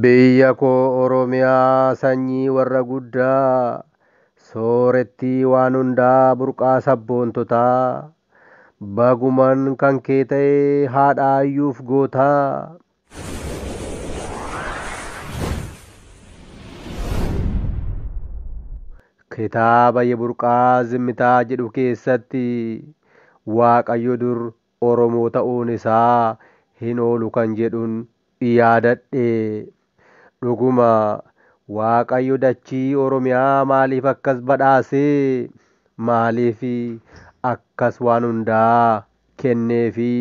Biyya koo Oromiyaa sanyii warra guddaa, soorettii waan hundaa burqaa sabboontotaa, baguman kan kee ta'e haadha hayyuuf gootaa. Kitaaba Yeburqaa Zimmitaa jedhu keessatti Waaqayyo dur Oromoo ta'uun isaa hin oolu kan jedhun yaadadhe. Dhuguma Waaqayyo dachii Oromiyaa maaliif akkas badhaase? Maaliif akkas waan hundaa kenneefi?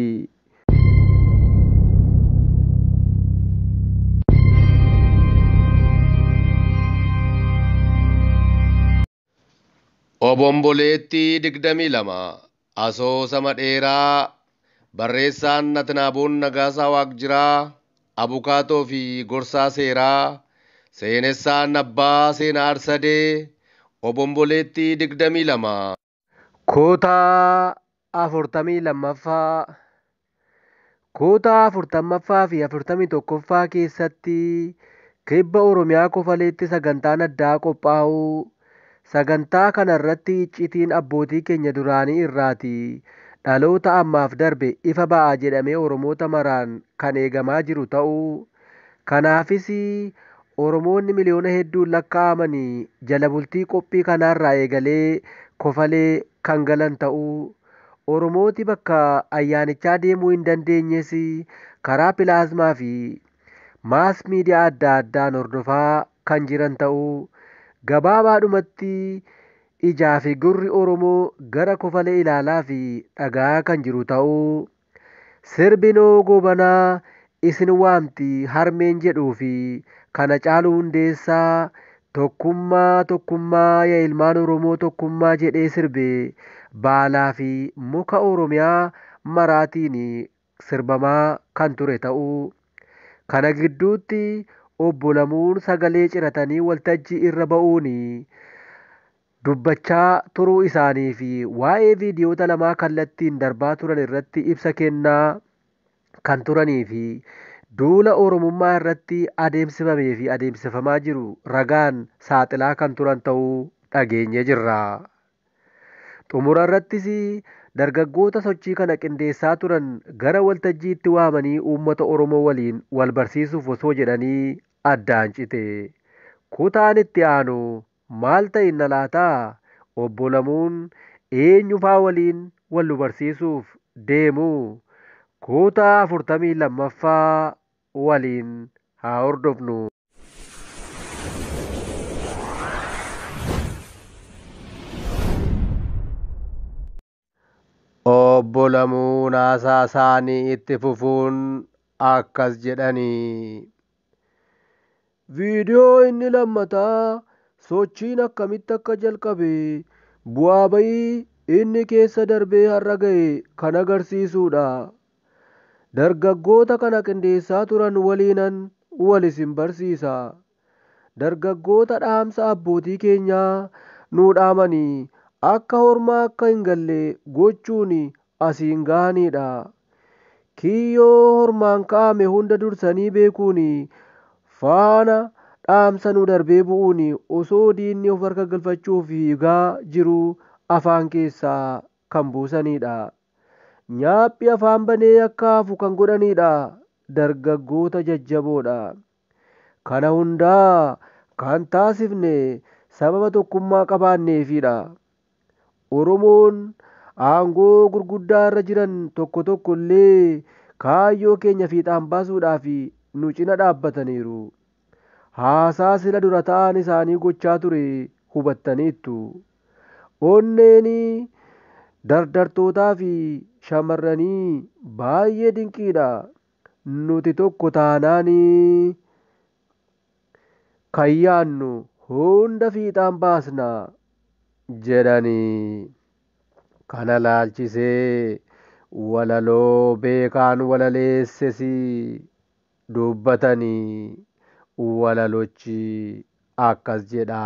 Obomboleettii 22, Asoosama dheeraa barreessaan Atnaaboon Nagaasaa Waaqjiraa, abukaatoo fi gorsaa seeraa, seenessaan abbaa seena Arsadee, Obomboleettii 22. Kootaa afurtamii lammaffaa kutaa afurtammaffaa fi afurtamii tokkoffaa keessatti kibba Oromiyaa Kofaleetti sagantaan addaa qophaa'uu sagantaa kana irratti iccitiin abbootii keenya duraanii irraati dhaloota ammaaf darbe ifa ba'a jedhamee Oromoota maraan kan eegamaa jiru ta'uu kanaafis Oromoonni miliyoona hedduun lakkaa'amani jala bultii qophii kanaarraa eegalee Kofalee kan galan ta'uu, Oromooti bakka ayyaanichaa deemuu hin dandeenyes karaa pilaazmaa fi maas miidiyaa adda addaan hordofaa kan jiran ta'uu, gabaabaadhumatti ijaa fi gurri Oromoo gara Kofale ilaalaa fi dhaga'aa kan jiru ta'uu, Sirbinoo Goobanaa isin waamti harmeen jedhuu fi kan Hacaaluu Hundeessaa Tokkummaa Tokkummaa ya ilmaan Oromoo Tokkummaa jedhee sirbe baalaa fi muka Oromiyaa maraatiin sirbamaa kan ture ta'uu. Kana gidduutti Obbo Lamuun sagalee ciratanii waltajjii irra ba'uun dubbachaa turuu isaanii fi waa'ee viidiyoota lamaa kallattiin darbaa turan irratti ibsa kennaa kan turanii fi duula Oromummaa irratti adeemsifamee fi adeemsifamaa jiru ragaan saaxilaa kan turan ta'uu dhageenyee jirra. Xumura irrattis dargaggoota sochii kana qindeessaa turan gara waltajjiitti waamanii uummata Oromoo waliin wal barsiisuuf osoo jedhanii addaan cite. Kutaan itti aanu maal ta'inna laata? Obbo Lamuun eenyufaa waliin wal nu barsiisuuf deemu? Kutaa 42ffaa waliin haa hordofnu. Obbo Lamuun haasaasaanii itti fufuun akkas jedhani. Viidiyoo inni lammataa sochiin akkamitti akka jalqabe, bu'aa ba'ii inni keessa darbee har'a ga'e kan agarsiisuudha. Dargaggoota kana qindeessaa turan waliinan wal isin barsiisa. Dargaggoota dhaamsa abbootii keenyaa nuu dhaamanii akka hormaa akka hin galle gochuun asiin gahaniidha. Kiyyoo hormaan ka'ame hunda dursanii beekuun faana dhaamsa nuu darbee bu'uun osoo diinni of harka galfachuuf fiigaa jiruu afaan keessaa kan buusaniidha. Nyaaphi afaan banee akka hafu kan godhaniidha. Dargaggoota jajjaboodha. Kana hundaa kan taasifne sababa tokkummaa qabaanneefiidha. Oromoon aangoo gurguddaa irra jiran tokko tokko illee kaayyoo keenya fiixaan baasuudhaaf nu cina dhaabbataniiru. Haasaa sila dura ta'aan isaanii gochaa ture hubattaniittu. Onneen dardartootaa fi shamarranii baay'ee dinqiidha. Nuti tokko taanaan kan yaadnu hunda fiixaan baasna jedhani. Kana laalchisee walaloo Beekaan walaleesses dubbatani. Walalochi akkas jedha.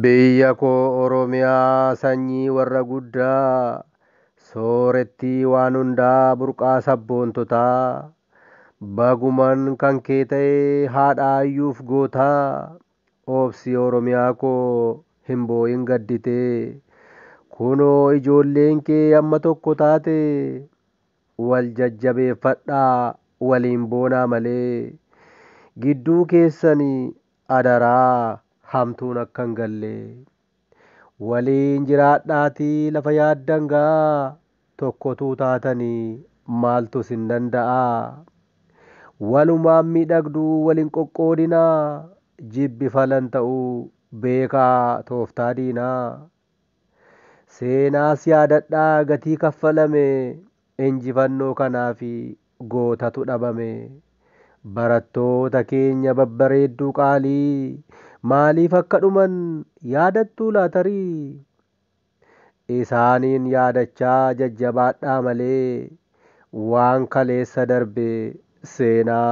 Biyya koo Oromiyaa sanyii warra guddaa, soorettii waan hundaa burqaa sabboontotaa, baguman kan kee ta'e haadha hayyuuf gootaa, obsi Oromiyaa koo hin boo'in gadditee, kunoo ijoolleen kee amma tokko taate, Wal jajjabeeffadhaa waliin boonaa malee gidduu keessani adaraa hamtuun akka hin galle. Waliin jiraadhaatii lafa yaaddan gaa tokko utuu taatanii maaltu isin danda'a? Walumaan miidhagduu wal hin qoqqoodinaa jibbi falan ta'uu beekaa tooftaa diinaa. Seenaas yaadadhaa gatii kaffalame injifannoo kanaaf gootatu dhabame. Barattoota keenya babbareedduu qaalii maaliif akka dhuman yaadattuu laa tarii? Isaaniin yaadachaa jajjabaadhaa malee waan kaleessa darbe seenaa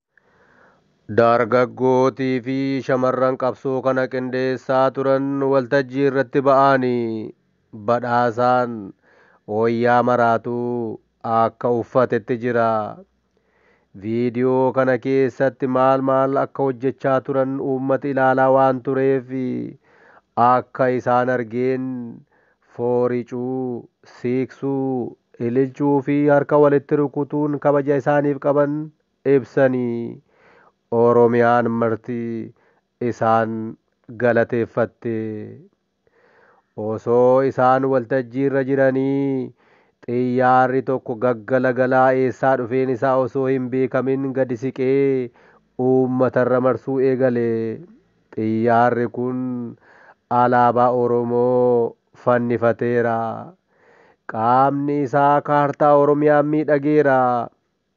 Dargaggootii fi shamarran qabsoo kana qindeessaa turan waltajjii irratti ba'aanii Badhaasaan wayyaa maraatuu akka uffatetti jira. Viidiyoo kana keessatti maal maal akka hojjechaa turan uummati ilaalaa waan tureef akka isaan argeen fooricuu, siiqsuu, ililchuu fi harka walitti rukutuun kabaja isaaniif qaban ibsanii, Oromiyaan marti isaan galateeffatte. Osoo isaan waltajjiirra jiranii xiyyaarri tokko gaggalagalaa eessaa dhufeen isaa osoo hin beekamin gadi siqee uummatarra marsuu eegale. Xiyyaarri kun alaabaa Oromoo fannifateera. Qaamni isaa kaartaa Oromiyaa miidhageera.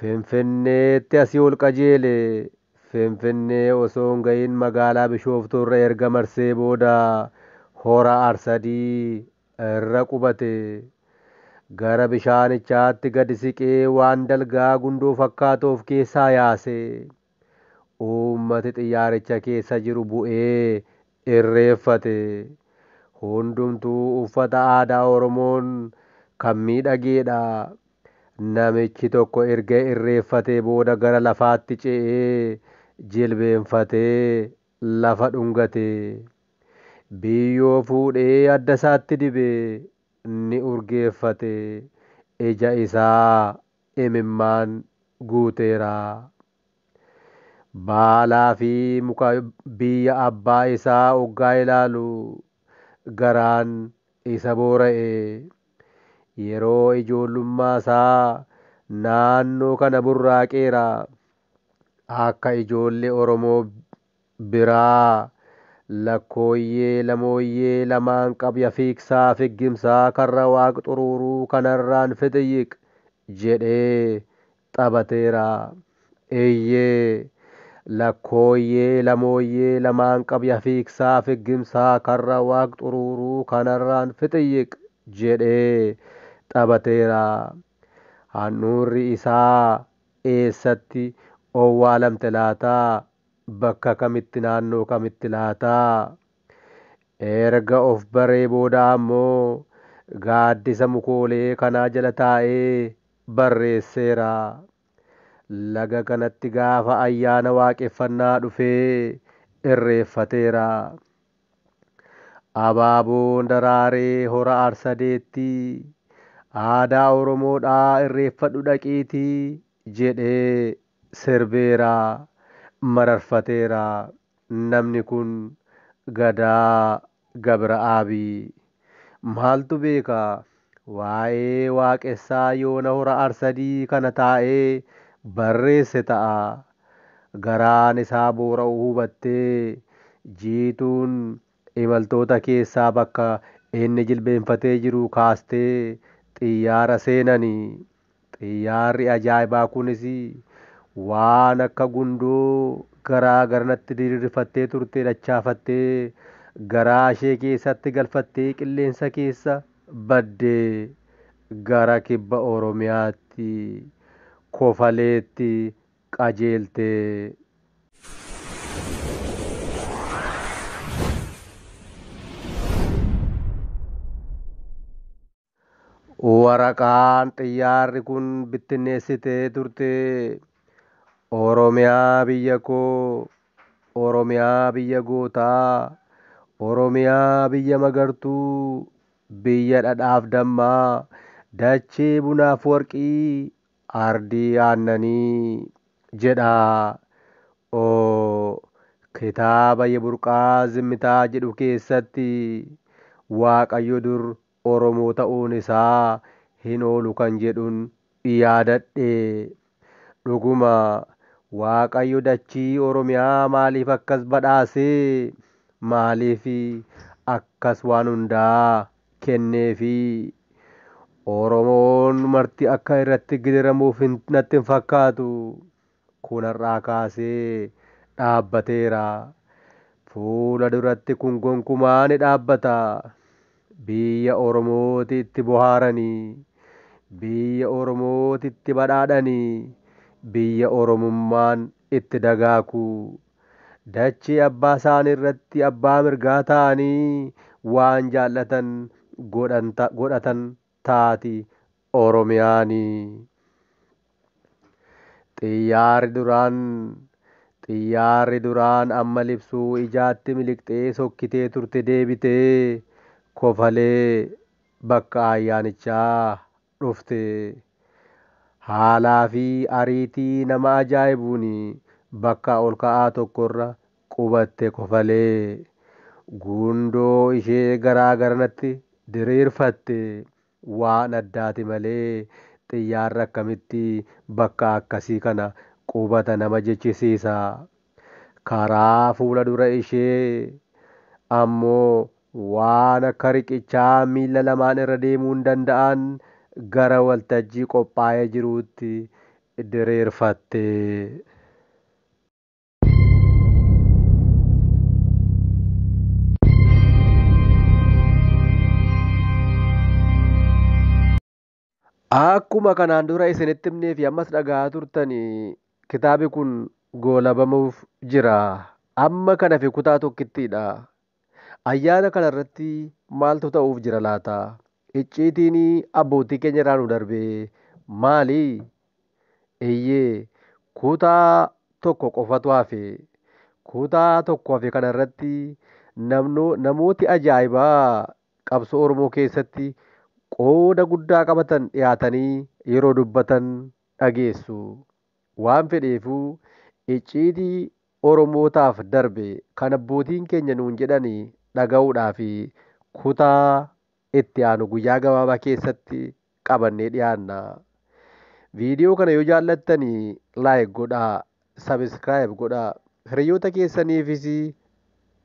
Finfinneetti asii ol qajeele. Finfinnee osoo hin ga'iin magaalaa Bishooftuu irra erga marsee booda Hora Arsadii irra qubate. Gara bishaanichaatti gad siqee waan dalgaa gundoo fakkaatu of keessaa yaase. Uummati xiyyaaricha keessa jiru bu'ee irreeffate. Hundumtuu uffata aadaa Oromoon kan miidhageedha. Namichi tokko erga irreeffatee booda gara lafaatti ce'ee jilbeenfatee lafa dhungate. Biyyoo fuudhee addasaatti dibe. Ni urgeeffate. Ija isaa imimmaan guuteera. Baalaa fi muka biyya abbaa isaa oggaa ilaalu garaan isa boora'e. Yeroo ijoollummaa isaa naannoo kana burraaqeera. Akka ijoollee Oromoo biraa Lakkooyyee lamooyyee lamaan qabya fiigsaa figgimsaa karra waaq xuruuruu kanarraan fixiyyiq jedhee xabateera. Eeyyee Lakkooyyee lamooyyee lamaan qabya fiigsaa figgimsaa karra waaq xuruuruu kanarraan fixiyyiq jedhee xabateera. Handhuurri isaa eessatti owwaalamte laata? Bakka kamitti naannoo kamitti laata? Erga of baree booda ammoo gaaddisa mukoolee kanaa jala taa'ee barreesseera. Laga kanatti gaafa ayyaana waaqeffannaa dhufee irreeffateera. Abaaboon daraaree hora Arsadeetti aadaa Oromoodhaa irreeffadhu dhaqiitii jedhee Sirbeera, mararfateera namni kun Gadaa Gabira'aabi. Maaltu beeka waa'ee Waaqessaa yoona Hora Arsadii kana taa'ee barreesse ta'a. Garaan isaa boora'uu hubattee Jiituun Imaltoota keessaa bakka inni jilbeenfatee jiru kaastee xiyyaara seenani. Xiyyaarri ajaa'ibaa kunis waan akka gundoo garaa garanatti diriirfattee turte dachaafattee garaa ishee keessatti galfattee qilleensa keessa badde. Gara Kibba Oromiyaatti, Kofaleetti qajeeltee. Waraqaan xiyyaarri kun bittinneessitee turte Oromiyaa biyya koo, Oromiyaa biyya gootaa, Oromiyaa biyya magartuu, biyya dhadhaaf dammaa, dachee bunaaf warqii, Ardii Aannanii jedha. o Kitaaba Yeburqaa Zimmitaa jedhu keessatti Waaqayyo dur Oromoo ta'uun isaa hin oolu kan jedhun yaadadhe. Dhuguma Waaqayyo dachii Oromiyaa maaliif akkas badhaase? Maaliif akkas waan hundaa kenneefi Oromoon marti akka irratti gidiramuuf natti hin fakkaatu. Kun har'aa kaasee dhaabbateera. Fuula duratti kun gonkumaa ni dhaabbata. Biyya Oromooti itti bohaarani. Biyya Oromooti itti badhaadhani. Biyya Oromummaan itti dagaaku. dachee abbaa isaanii irratti abbaa mirgaa ta'anii waan jaallatan godhatan taati Oromiyaan. Xiyyaarri duraan Xiyyaarri duraan amma libsuu ijaatti miliqxee sokkitee turte deebitee kofalee bakka ayyaanichaa dhufte. Haalaafi ariitii nama ajaa'ibuun bakka olka'aa tokkorra qubatte kofalee. Gundoo ishee garaa garanatti diriirfatte. Waan addaati malee xiyyaarri akkamitti bakka akkasii kana qubata nama jechisiisa. Karaa fuula dura ishee ammoo waan akka riqichaa miilla lamaan irra deemuun danda'an gara waltajjii qophaa'ee jiruutti diriirfatte. Akkuma kanaan dura isinitti himnee fi ammas dhaga'aa turtan kitaabi kun goolabamuuf jira. Amma kan hafe kutaa tokkittiidha. Ayyaana kana irratti maaltu ta'uuf jira laata? Icciitiin abbootii keenya irraa nu darbe maali? Eeyyee, kutaa tokko qofatu hafe. Kutaa tokko hafe kana irratti namooti ajaa'ibaa qabsoo Oromoo keessatti qooda guddaa qabatan dhiyaatanii yeroo dubbatan dhageessu. Waan fedheefuu icciitii Oromootaaf darbe kan abbootiin keenya nuun jedhan dhaga'uudhaaf kutaa itti aanu guyyaa gabaabaa keessatti qabannee dhiyaanna. Viidiyoo kana yoo jaallattani like godhaa, subscribe godhaa, hiriyoota keessaniifis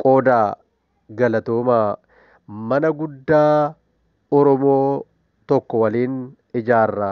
qoodaa. Galatoomaa! Mana guddaa Oromoo tokko waliin ijaarra.